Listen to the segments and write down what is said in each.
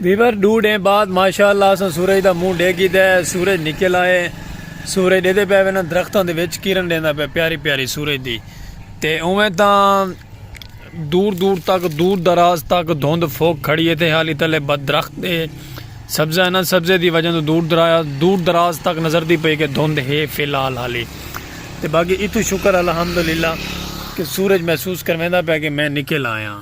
viewer ڈو ڈے بعد ماشاءاللہ اساں سورج دا منہ ڈے گی دے سورج نکل آئے سورج دے دے پہ وینا درختوں دے وچ کرن دیندا پہ پیاری پیاری سورج دی تے اوہ تاں دور دور تک دور دراز تک دھند فوک کھڑی ہے تے حالی تلے بد درخت دے سبزہ ہے نا سبزے دی وجہ تو دور دراز دور دراز تک نظر دی پئی کہ دھند ہے فی الحال حالی تے باقی اتو شکر الحمدللہ کہ سورج محسوس کرویندا پیا کہ میں نکل آیا ہاں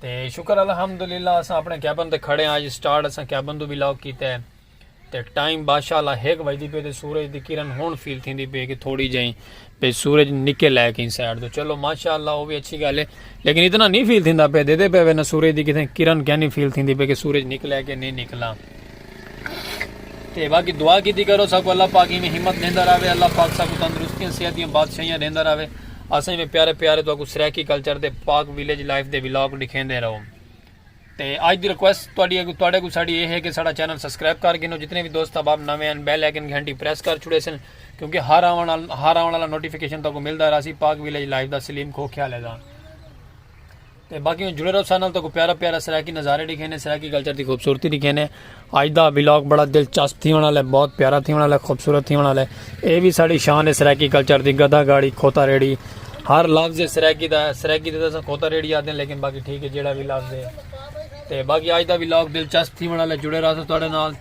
تے شکر الحمدللہ اساں اپنے کیبن تے کھڑے ہیں آج سٹارٹ اساں کیبن تو بھی لاک کیتا ہے تے ٹائم بادشاہ اللہ ہیک بجدی پہ تے سورج دی کرن ہون فیل تھی دی پہ کہ تھوڑی جائیں پہ سورج نکے لے کہیں سائڈ تو چلو ماشاء اللہ وہ بھی اچھی گالے لیکن اتنا نہیں فیل تھی دا پہ دے دے پہ نہ سورج دی کتھیں کرن کیا نہیں فیل تھی دی پہ کہ سورج نکلے کہ نہیں نکلا تے باقی دعا کیتی کرو ساکو اللہ پاک ایویں ہمت دیندا رہے اللہ پاک ساکو تندرستیاں صحت دیاں بادشاہیاں دیندا رہے اساں ایویں پیارے پیارے تو کو سرائیکی کلچر دے پاک ویلیج لائف دے ولاگ دکھیندے رہو تے اج دی ریکویسٹ تواڈی اگو تواڈے کو ساڈی اے ہے کہ ساڈا چینل سبسکرائب کر گنو جتنے بھی دوست احباب نویں ہیں بیل آئیکن گھنٹی پریس کر چھڑے سن کیونکہ ہر آون ہر آون والا نوٹیفیکیشن تو کو ملدا رہسی پاک ویلیج لائف دا سلیم کھو خیال ہے دا تے باقی میں جڑے رہو سارے نال تو پیارا پیارا سرائیکی نظارے دکھے نے سرائیکی کلچر دی خوبصورتی دکھے نے اج دا ولاگ بڑا دلچسپ تھی ہونا لے بہت پیارا تھی ہونا لے خوبصورت تھی ہونا لے اے بھی ساڑی شان ہے سرائیکی کلچر دی گدھا گاڑی کھوتا ریڑی ہر لفظ سرائیکی دا سرائیکی تے اساں کھوتا ریڑی آدے لیکن باقی ٹھیک ہے جیڑا بھی لفظ ہے تے باقی اج دا ولاگ دلچسپ تھی ہونا لے جڑے رہو سارے نال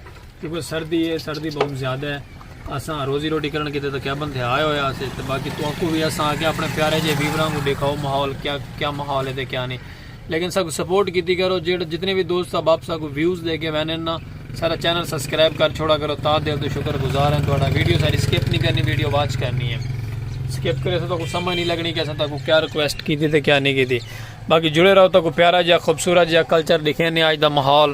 کیونکہ سردی ہے سردی بہت زیادہ ہے اساں روزی روٹی کرن کیتے تے کیبن تھے آئے ہوئے آسے تے باقی تو اکو بھی اساں آگے اپنے پیارے جے ویوراں کو دیکھاؤ محول کیا کیا محول ہے تے کیا نہیں لیکن ساکو سپورٹ کیتی کرو جیڑے جتنے بھی دوست اب آپ ساکو ویوز دے کے وینن نا سارا چینل سبسکرائب کر چھوڑا کرو تا دل تو شکر گزار ہیں تو ویڈیو ساری سکپ نہیں کرنی ویڈیو واچ کرنی ہے سکپ کرے تو سمجھ نہیں لگنی کہ اساں تاکو کیا ریکویسٹ کیتی تے کیا نہیں کیتی باقی جڑے رہو تاکو پیارا جا خوبصورت جا کلچر دکھینے آج دا محول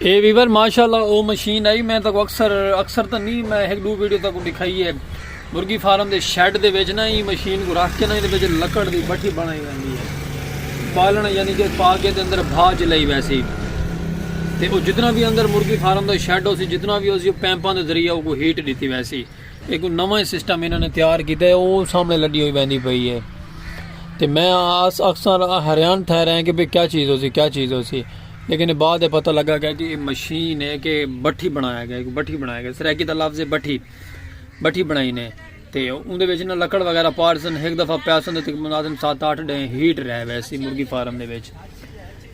اے ویور ماشاءاللہ او مشین آئی میں تکو اکثر اکثر تا نہیں میں ایک دو ویڈیو تکو دکھائی ہے مرگی فارم دے شیڈ دے ویچ نا ہی مشین کو رکھ کے نا ہی دے لکڑ دی بٹھی بنائی ویندی ہے بالن یعنی کہ پاکے دے اندر بھا جلائی ویسی تے او جتنا بھی اندر مرگی فارم دے شیڈ ہو سی جتنا بھی ہو سی پیمپان دے ذریعہ کو ہیٹ دیتی ویسی ہک نواں ہی سسٹم انہاں نے تیار کیتا ہے او سامنے لڈی ہوئی ویندی پئی ہے تے میں اکثر حیران تھے رہے ہیں کہ بھئی کیا چیز ہوسی کیا چیز ہوسی لیکن بعد ہے پتہ لگا گیا کہ یہ مشین ہے کہ بٹھی بنایا گیا ایک بٹھی بنایا گیا سرائیکی دا لفظ ہے بٹھی بٹھی بنائی نے تے اون دے وچ نہ لکڑ وغیرہ پارسن ایک دفعہ پیاسن تے مناظم سات آٹھ ڈے ہیٹ رہ ویسی مرغی فارم دے وچ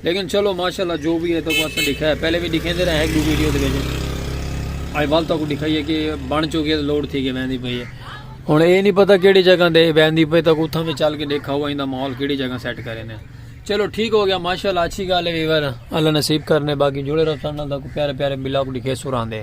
لیکن چلو ماشاءاللہ جو بھی ہے تو اساں دکھایا پہلے بھی دکھیندے رہے ایک دو ویڈیو دے وچ آئی وال تو کو دکھائیے کہ بن چکی ہے لوڈ تھی کے ویندی پئی ہے ہن اے نہیں پتہ کیڑی جگہ دے ویندی پئی تو اتھاں میں چل کے دیکھا ہوا ایندا ماحول کیڑی جگہ سیٹ کرے نے چلو ٹھیک ہو گیا ماشاءاللہ اچھی گل ہے ویور اللہ نصیب کرنے باقی جڑے رہو سن دا کو پیارے پیارے بلاگ دکھے سراندے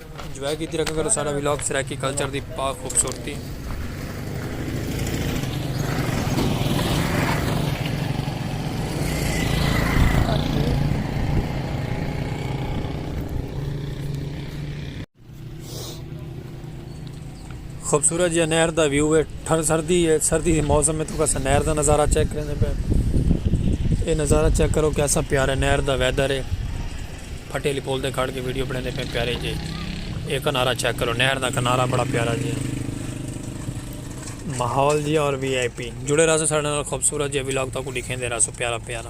انجوائے کیتی رکھا کرو سارا ویلاگ سرائیکی کلچر دی پاک خوبصورتی خوبصورت جیہا نہر دا ویو ہے ٹھنڈ سردی ہے سردی دے موسم میں تساں نہر دا نظارہ چیک کریندے پے اے نظارہ چیک کرو کیسا پیار ہے نہر دا ویدر ہے پھٹے علی پول دے کھڑ کے ویڈیو بنے دے پے پیارے جی اے کنارہ چیک کرو نہر دا کنارہ بڑا پیارا جی ماحول جی اور وی آئی پی جڑے رہا سو سارے خوبصورت جی ولاگ تاکو دکھیں دے رہا سو پیارا پیارا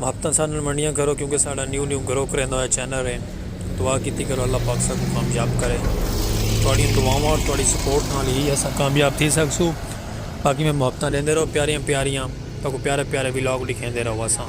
محبتاں ساڈے نال ونڈیاں کرو کیونکہ ساڈا نیو نیو گرو کریندا ہویا چینل ہے دعا کیتی کرو اللہ پاک ساکوں کامیاب کرے تھوڑی دعاواں اور تھوڑی سپورٹ نال ہی اساں کامیاب تھی سکسو باقی میں محبتاں دیندے رہو پیاریاں پیاریاں تاکو پیارے پیارے ولاگ لکھیندے رہو اساں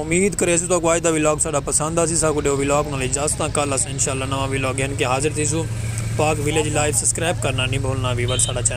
امید کریسوں تاکو آج دا ویلاگ ساڈا پسند آسی ساکو ڈیو ویلاگ نال اجازت ہاں کل اساں انشاءاللہ نواں ویلاگ گھن کے حاضر تھیسوں پاک ویلیج لائف سبسکرائب کرنا نی بھولنا ویور ساڈا چینل